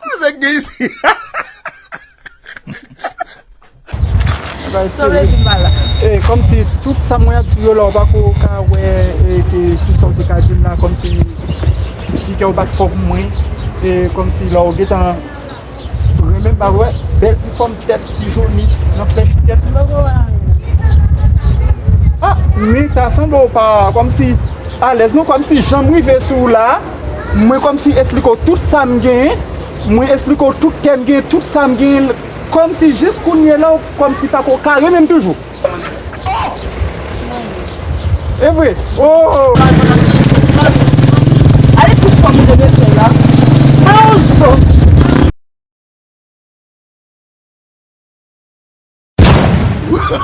Kòl nèg gen isi. Sa vle di mal la. E komsi tout sa mwen ap di yo la ou pako ka wè e ke kisa ou te ka dim la komsi ti kèw bat fò pou mwen e komsi la ou gentan renmenm pa vre bèl ti fòm tèt ti joni nan flèch ou tèt a mi ta sanble ou pa komsi alèz non komsi janm rive sou ou la. mwen kòmsi esplike w tout sa m genyen, mwen esplike w tout kè m genyen, tout sa m genyen, kòmsi jis kounyela w kòmsi pako ka renmen m toujou. Oh! E vre? Oh! Gade ti fanm ou te vle fè la. Mwen yon zo.